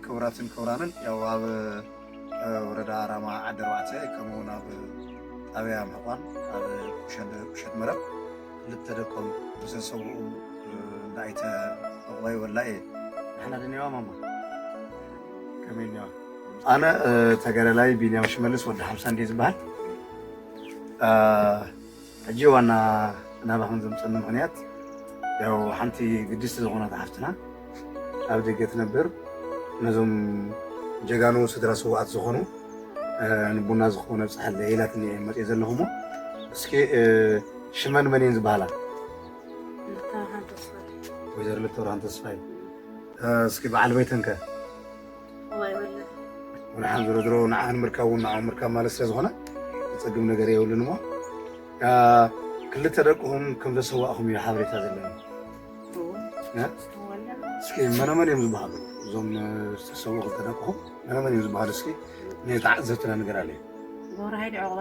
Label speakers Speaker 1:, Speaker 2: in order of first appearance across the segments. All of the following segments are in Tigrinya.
Speaker 1: ክቡራትን ክቡራንን ያው ኣብ ወረዳ ራማ ዓዲ ኣርባዕተ ከምኡ እውን ኣብ ጣብያ ምሕቋን ኣብ ቁሸት መረብ ክልተ ደቆም ዝተሰውኡ እንዳ ኣይተ ዕቑባይ ወላኤ ንሕና ድኔዋ ማማ ከመይ እኔዋ ኣነ ተጋዳላይ ቢንያም ሽመልስ ወዲ ሓምሳ እንድየ ዝበሃል ሕጂ ዋና ናባኹም ዘምጸኒ ምኽንያት ያው ሓንቲ ግድስቲ ዝኾነት ሓፍትና ኣብ ደገ ትነብር ነዞም ጀጋኑ ስድራ ስውኣት ዝኾኑ ንቡና ዝኾነ ብጽሓለይ ኢላትኒ እየ መጽእ ዘለኹ እሞ እስኪ ሽመን መን እየን ዝበሃላ? ወይዘሮ ልተብርሃን ተስፋይ እስኪ በዓል ቤተን ከ ብርሓን ዝሮ ዝሮ ንዓኽ ንምርካብ እውን ንዕኦም ምርካብ ማለት ስለ ዝኾነ ዝፀግም ነገር የብሉን እሞ ክልተ ደቅኹም ከም ዘሰዋእኹም እዩ ሓበሬታ ዘለኒ። እስኪ መነመን እዮም ዝበሃሉ እዞም ዝተሰዉ ክልተ ደቅኹም መነመን እዮም ዝበሃሉ? እስኪ ንተዓዘብትና ንገር ኣለዩ ጎራይድ ዕቑባ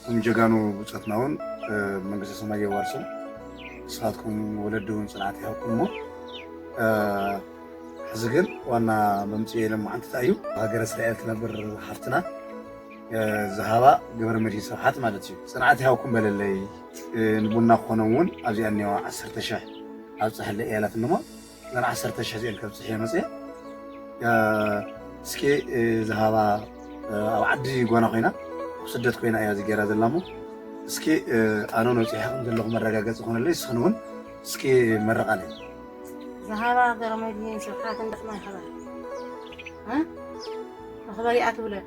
Speaker 1: እዞም ጀጋኑ ብፆትና እውን መንግስተ ሰማይ የዋርሶም። ንስኻትኩም ወለዲ እውን ፅንዓት ይሃብኩም እሞ ሕዚ ግን ዋና መምፅኢ የለን መዓንቲ እንታይ እዩ ሃገረ እስራኤል ትነብር ሓፍትና ዝሃባ ግብረ መድሂ ስብሓት ማለት እዩ ፅንዓት ይሃብኩም በለለይ ንቡና ክኾኖም እውን ኣብዚኣ እኒዋ ዓሰርተ ሽሕ ኣብፀሐለይ እያላትኒ እሞ ገና ዓሰርተ ሽሕ ዝኤል ከብፅሕየ መፅየ እስኪ ዝሃባ ኣብ ዓዲ ጓና ኮይና ኣብ ስደት ኮይና እያ እዚ ገይራ ዘላ እሞ እስኪ ኣነ ነፂሐ ከም ዘለኹ መረጋገፂ ኮነለይ እስኽን እውን እስኪ መረቃለይ ዝሃባ ገረመድህን ስብሓት እንዳስማ ይኸበር መኽበሪኣ ትብለል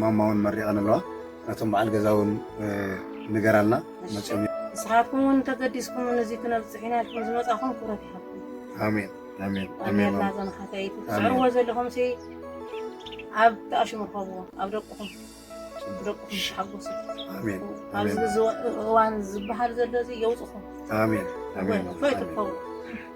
Speaker 1: ማማ እውን መሪቐን ኣለዋ ነቶም በዓል ገዛ እውን ንገራልና መፅኦም ንስኻትኩም እውን ተገዲስኩም ንዚ ክነብፅሕ ኢና ኢልኩም ዝመፃኹም ክብረት ይሃብኩም ኣሜን ኣሜን ኣሜን ኣሜላ ዘንኻተይ ትስዕርዎ ዘለኹም ሲ ኣብ ተኣሽሙ ርከብዎ ኣብ ደቅኹም ደቅኹም ተሓጎሱ ኣሜን ኣብዚ ኣሜን እዚ እዋን ዝበሃል ዘሎ እዚ የውፅኹም ኣሜን ኣሜን እፎይ ትርከቡ